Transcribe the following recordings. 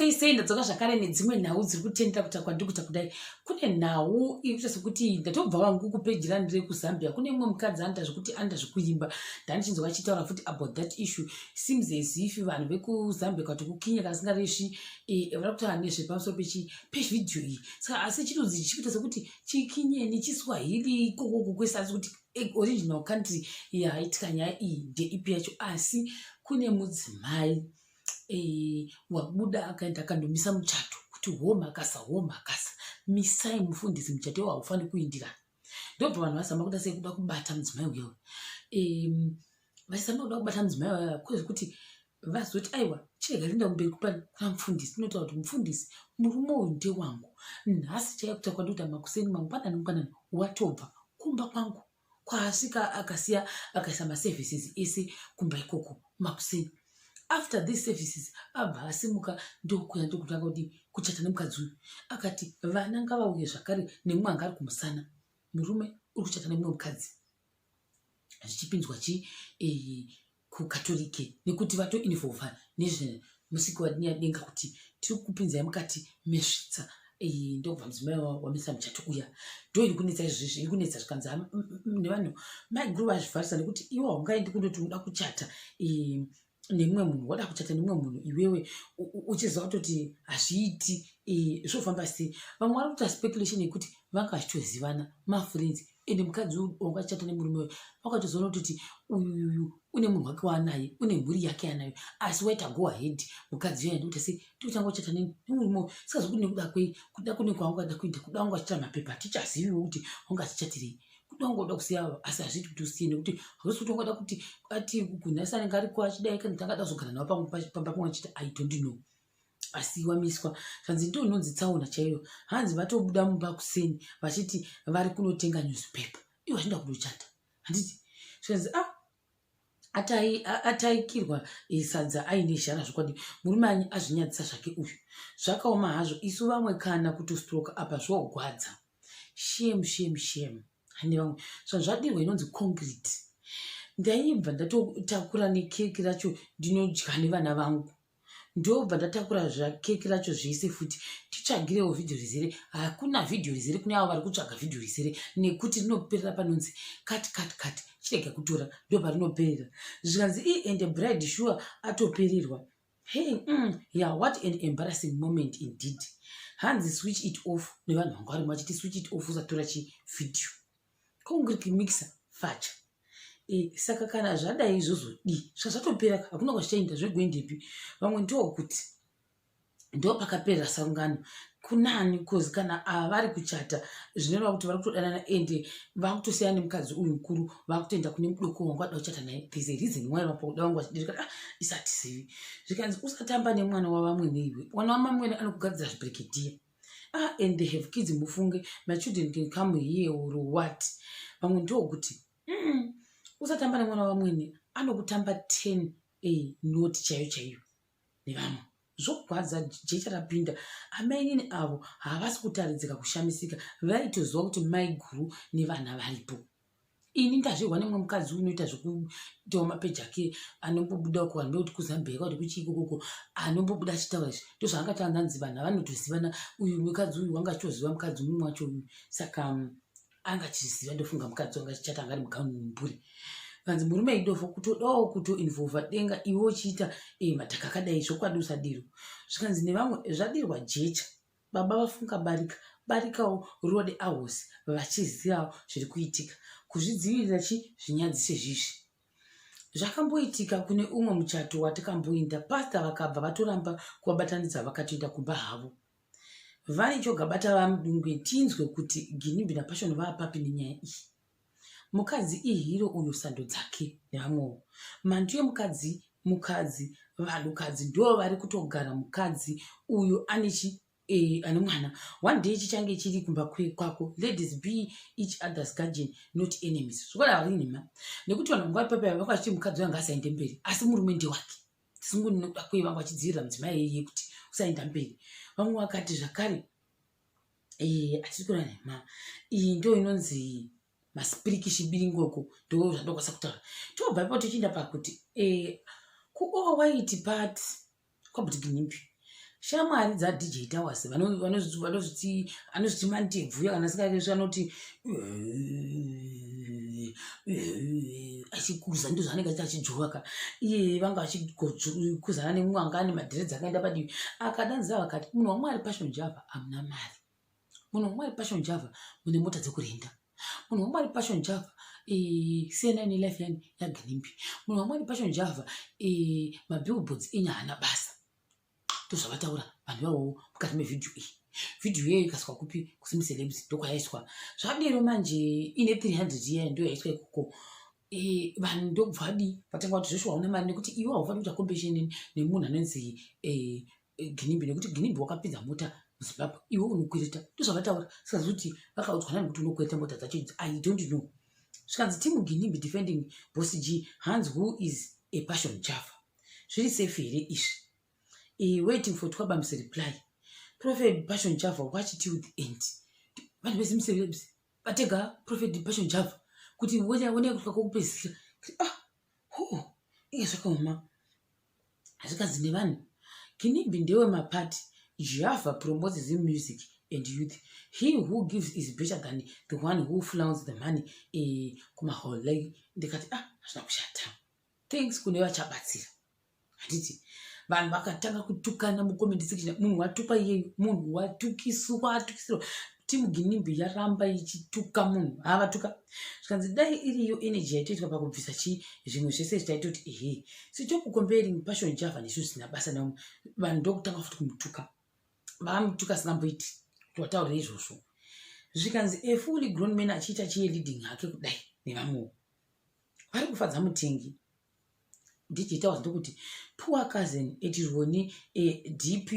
sei sei ndadzoka zvakare nedzimwe nhau dziri kutendera kuta kwandikuta kudai kune nhau ikuita sekuti ndatobva vangu kupeji randiri kuzambia kune imwe mukadzi anoita zvekuti anoita zvekuimba ndanichinzwa achitaura futi about that issue seems as if vanhu vekuzambia kati kukinya kasingaresvi eh, vari kutaura nezvepamusoro pechi pevhidhiyo iyi saka asi chitunzi chichikuita sekuti chikinyeni chiswahili ikokoko kwese asi kuti eh, original country yaitika nyaya iyi ndeipi yacho asi kune mudzimai wabuda akaenda akandomisa muchato kuti homakasa homakasa misai mufundisi muchato iwo haufaniri kuindirana ndobva vanhu vazama kuda sei kuda kubata mudzimai uyo vachizama kuda kubata mudzimai uyo kwezvekuti vazoti aiwa chirega linda kumberi kupani kuna mufundisi inotaura kuti mufundisi murume uyu ndewangu nhasi chaiye kutakwa ndikuti makuseni mangwanani ngwanani watobva kumba kwangu kwaasvika akasiya akaisa maservices ese kumba ikoko makuseni after these services abva asimuka ndokuya ndokutanga kudii kuchata nemukadzi uyu akati vana ngavauye zvakare nemumwe anga ari kumusana murume uri kuchata nemumwe mukadzi zvichipinzwa chii eh, kukatorike nekuti vato involva nezvemusiki wadini yadenga kuti tiri kupinzai mukati mesvitsa ndokubva mudzimai wamisa muchato uya ndo iri kunetsa izvezvi iri kunetsa zvikanzi mm, mm, mm, nevanhu maiguru vazvivharisa nekuti iwo haungaendi kundoti unoda kuchata nemumwe munhu wada kuchata nemumwe munhu iwewe uchiziva kutoti hazviiti zvofamba sei vamwe vari kuita speculation yekuti vanga vachitozivana mafriends ende mukadzi uyu wanga achata nemurume uyu wakatozoona kutoti uyuyu une munhu wake waanaye une mhuri yake yanayo asi waita go ahead mukadzi uyo andikuti se tiotanga uchata neni nemurume uyu sikazokuti nekuda kwei kuda kune kwanga ukada kuita kuda wanga achita mapepa tichaziviwo kuti wanga achichatirei kuda wanga uda kusiya asi hazviti kuti usiye nekuti hausi kuti wangada kuti ati kunhasi anenge ariko achidai kana tangada kuzogara navo pamba pamwe achiti i don't know asi wamiswa zvanzi ndiyo inonzi tsaona chaiyo hanzi vatobuda mumba kuseni vachiti vari kunotenga newspaper iwo vachida kunochata handiti zvikanzi a ah, ataikirwa eh, sadza aine zhara zvokwadi murume anyi azvinyadzisa zvake uyu zvakaoma hazvo isu vamwe kana kutostroka apa zvogwadza shame shame shame hande vamwe zvanhu zvadirwa inonzi concrete ndaibva ndatotakura nekeki racho ndinodya nevana vangu ndobva ndatakura zvakeki racho zvese futi titsvagirewo vhidhiyo rizere hakuna vhidhiyo rizere kune avo vari kutsvaga vhidhiyo rizere nekuti rinoperera panonzi kati kati kati chirega kutora ndo parinoperera zvikanzi i and bride sure atopererwa hey mm, yeah what an embarrassing moment indeed hanzi switch it off nevanhu vanga varimo vachiti switch it off usatora chivhidhiyo kongiriki mikisa facha e, saka kana zvadai izvozodii zvazvatopera hakuna kwazvichainda zvegoindepi vamwe ndokuti ndo pakaperera sangano kunani bcause kana ava vari kuchata zvinoreva kuti vari kutodanana ende vakutosiyana nemukadzi uyu mukuru vakutoenda kune mudoko wangu ada kuchata naye there's a reason why vapakuda wangu vachidirika ah, isatizivi zvikanzi usatamba nemwana wavamwe neiwe mwana wamamwene anokugadzira zvibrikidhiya ah and they have kids mufunge my children can come here or what vamwe ndokuti mm, usatamba nemwana wamwene anokutamba ten a not chaiyo chaiyo nevamwe zvogwadza jecha rapinda amainini avo havasi kutaridzika kushamisika vaitoziva kuti maiguru nevana varipo ini ndazvirwa nemwe mukadzi unoita zvekuitawo mapeji ake anombobuda uko vanhu vekuti kuzambia yakakuti kuchii kokoko anombobuda achitaura izvi ndo zvaanga taanza nzi vanhu avanotozivana uyu mukadzi uyu wanga achitoziva mukadzi umwe wacho uyu saka um, anga achiziva ndofunga mukadzi wanga achichata anga ari mugauni mumhuri vanzi murume idofo kutodawo kutoinvolva denga iwe uchiita eh, madhaka akadai zvokwadi usadiro zvikanzi nevamwe zvadirwa jecha baba vafunga barika barikawo rode ahosi vachizivawo zviri kuitika kuzvidzivirira chi zvinyadzise zvizvi zvakamboitika kune umwe muchato watikamboinda pasta vakabva vatoramba kuvabatanidza vakatoenda kumba havo vane chogabata vamudungwe tinzwe kuti ginimbi napashoni vaapapi nenyaya iyi Mukadzi ihiro uyo sando dzake nevamwewo. Mhandu yemukadzi mukadzi vanhukadzi ndo vari kutogara mukadzi uyo ane chi eh, ane mwana one day chichange chiri kumba kwako ladies be each others guardian not enemies zvikora vari nhema nekuti vanhu vanga ipapo vanga vachiti mukadzi uyo anga asaende mberi asi murume ndewake sungu ndinoda kuye vanga vachidzivirira mudzimai yeye kuti usaenda mberi vamwe vakati zvakare eh, atiri kura nemama iyi ndo inonzi masipiriki chibiringoko ndo zvandokwanisa kutaura tobva ipo tichienda pakuti eh, kuowaiti pat kwabutiginipi shamwari dzadj towers anozviti mantebvu kana sikakesu anoti achikuza ndo zvaanenge achiti achijovaka iye vanga vachikuzana nemumwe anga ane madhiredzi akaenda padivi akadanzira vakati munhu wamwari pashon java hamuna mari munhu wamwari passion java mune mota dzekurenda munhu wamwari passion java cnn life yani yaginimbi munhu wamwari passion java mabillboards enye haana basa ndozvavataura vanhu ivawowo mukati mevhidhiyo iyi vhidhiyo iyoyo ikaswa kupi kusimucelebs ndokwayaiswa zvadero manje ine 300 iya ndo yaiswa ikoko Eh, vanhu ndokubva adii vatanga kuti zveshuwa hauna mari nekuti iwe haufaniri kuita competition nemunhu anonzi eh, eh, ginimbi nekuti ginimbi wakapinza mota muzimbabwe iwe unokwereta ndozvavataura saka zoti vakaudzwa nani kuti unokwereta mota dzacho idzi i don't know zvikanzi team ginimbi defending boss g hans who is a passion java zviri safe here izvi e, waiting for twabamse reply prophet passion java watch till the end vanhu vese musevebs vatega prophet passion java kuti wonea kusvika kokupedzisira ah ho inge zvakaoma zvikanzi nevanhu kinibhi ndewe mapati java promotes the music and youth he who gives is better than the one who flounds the money eh, kumahole ndikati ah hazvina kushata thanks kune vachabatsira handiti vanhu vakatanga kutukana mucomment section munhu watukwa iyeyu munhu watukiswa atukisirwa team ginimbi yaramba ichituka munhu havatuka zvikanzi dai iriyo energy yaitoitwa pakubvisa chii zvimwe zvese zvichaitoti ehe sitop comparing passion java nesu zvisina basa navo vanhu ndokutanga futi kumutuka vakamutuka asingamboiti kuti wataurira izvozvo zvikanzi a fully grown man achiita chiye leading hake kudai nevamwewo vari kufadza mutengi ndichitaura ndokuti poor cousin etironi eh, dp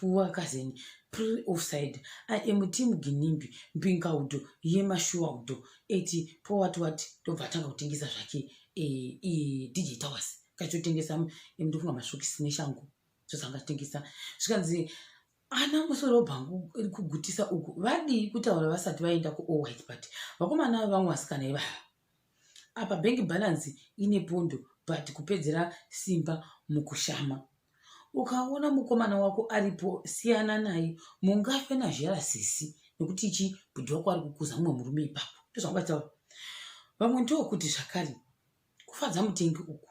poor cousin pre offside i am team ginimbi mbingaudo yemashuwaudo eti powat wat ndobva atanga kutengesa zvake eh, eh, dj towers kachotengesa eh, ndofunga masvokisi neshangu zvozanga atengesa zvikanzi ana musoro bhangu iri kugutisa uku vadii kutaura vasati vaenda kuowhite party vakomana vamwe vasikana ivava apa bank balance ine pondo but kupedzera simba mukushama ukaona mukomana wako aripo siyana naye mungafe nazhera sisi nekuti chi bhudhi wako ari kukuza mumwe murume ipapo ndozvangataura vamwe ndookuti zvakare kufadza mutengi uku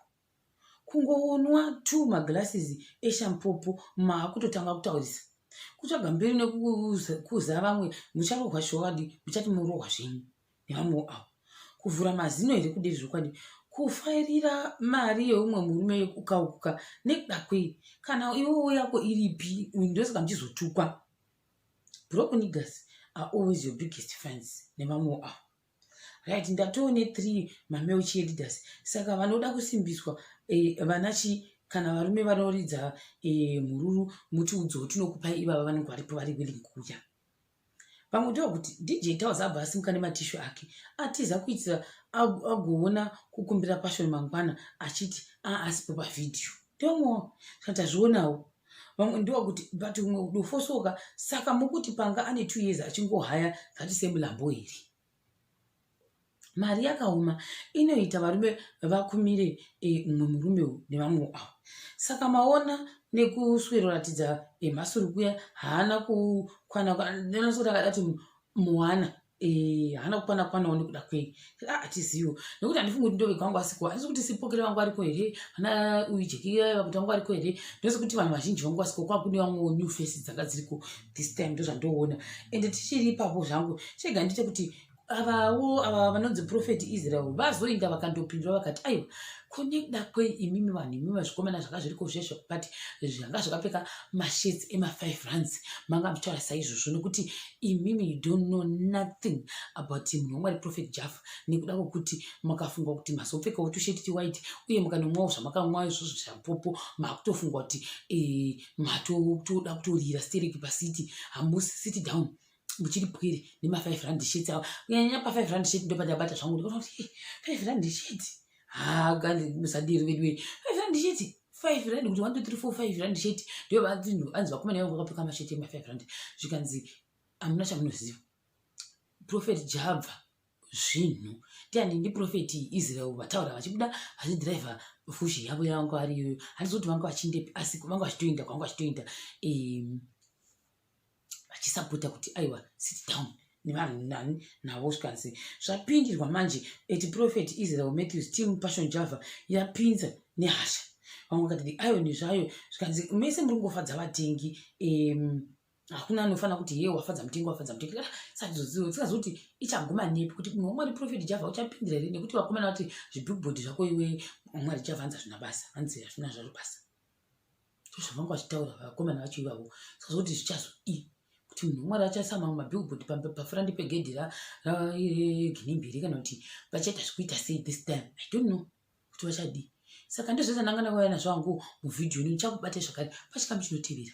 kungoonwa two maglasses eshampopo maakutotanga kutaurisa kutsvaga mberi nekukuza vamwe mucharohwa showadi muchati murohwa zvenyu nevamwewo avo kuvhura mazino here kudei zvokwadi kufairira mari yeumwe murume ukaukuka nekuda kwei kana iwowo yako iripi ndosaka muchizotukwa broken niggers are always your biggest friends nevamwewo avo right ndatoo nethree mameo cheerleaders saka vanoda kusimbiswa eh, vana chi kana varume vanoridza eh, mhururu mutiudzowo tinokupai ivava vanenge varipo vari willing kuuya pamwe ndiwa kuti dj taus abva asimuka nematishu ake atiza kuitira agoona kukumbira pashoni mangwana achiti aasipo pavhidhiyo ndomo saka tazvionawo vamwe ndiwa kuti but umwe udofosoka saka mukuti panga ane two years achingohaya ngati semulambo here mari yakaoma inoita varume vakumire eh, umwe e, murume uyu nevamwe avo saka maona nekusweroratidza emhasuru eh, kuya haana kukwana kuti akadati muwana Eh, haana kukwana kwanawo nekuda kwei ah, hatiziwo nekuti handifungi kuti ndovega wangu asiko handisi kuti sipokere vangu ariko here hana uyu jekira vakuti vangu ariko here ndose kuti vanhu vazhinji vangu asiko kwakune vamwewo new face dzanga dziriko this time ndozvandoona ende tichiri ipapo zvangu chega ndite kuti avawo ava vanonzi profeti israel vazoinda vakandopindura vakati aiwa kunekuda kwei imimi vanhu imimi vazvikomana zvanga zviri kozvezvo but zvanga zvakapfeka mashirts ema5 runs manga muchitaura saizvozvo nokuti imimi you don't know nothing about munhu wamwari prophet jaffa nekuda kwokuti makafunga kuti mazopfekawo tusheti tiwhite uye mukanomwawo zvamakamwa izvozvo zvapopo makutofunga kuti eh, matoda kutorira stereki pacity hamusi city down ndichiri pwiri nemafive rand sheti awa kunyanyanya pafive rand sheti ndopandabata zvangu ndikaona kuti five rand sheti haa kandi musadiri vedu wei five rand sheti five rand kuti one two three four five rand sheti ndiyo vanhu anzi vakomana yangu vakapfeka masheti emafive rand zvikanzi hamuna chamunoziva profeti jabva zvinhu tiani ndiprofeti israel vataura vachibuda vachidhiraivha fushi yavo yavanga vari iyoyo handizoti vanga vachindepi asi vanga vachitoenda kwavanga vachitoenda um, vachisapota kuti aiwa sit down nevanhu nani navo zvikanzi zvapindirwa manje eti prophet israel matthews team passion java yapinza nehasha vamwe vakati the iron zvayo zvikanzi mese muri kungofadza vatengi um, hakuna anofanira kuti hee wafadza mutengi wafadza mutengi ah, saizozivo tsingazokuti ichaguma nepi kuti munhu wamwari profeti java uchapindira here nekuti vakomana vati zvibhibhodhi zvako iwe mwari java hanzi hazvina basa hanzi hazvina zvaro basa zvavanga vachitaura vakomana vacho ivavo sazoti zvichazo i kuti munhu wemwari achaisa mamwe mabillboard pafurandi pegedhi ragine mbiri kana kuti vachaita zvekuita sei this time i don't know kuti vachadii saka ndizvese ndanga ndakauya nazvo hangu muvhidhiyo ini ndichakubate zvakare pachikamu chinotevera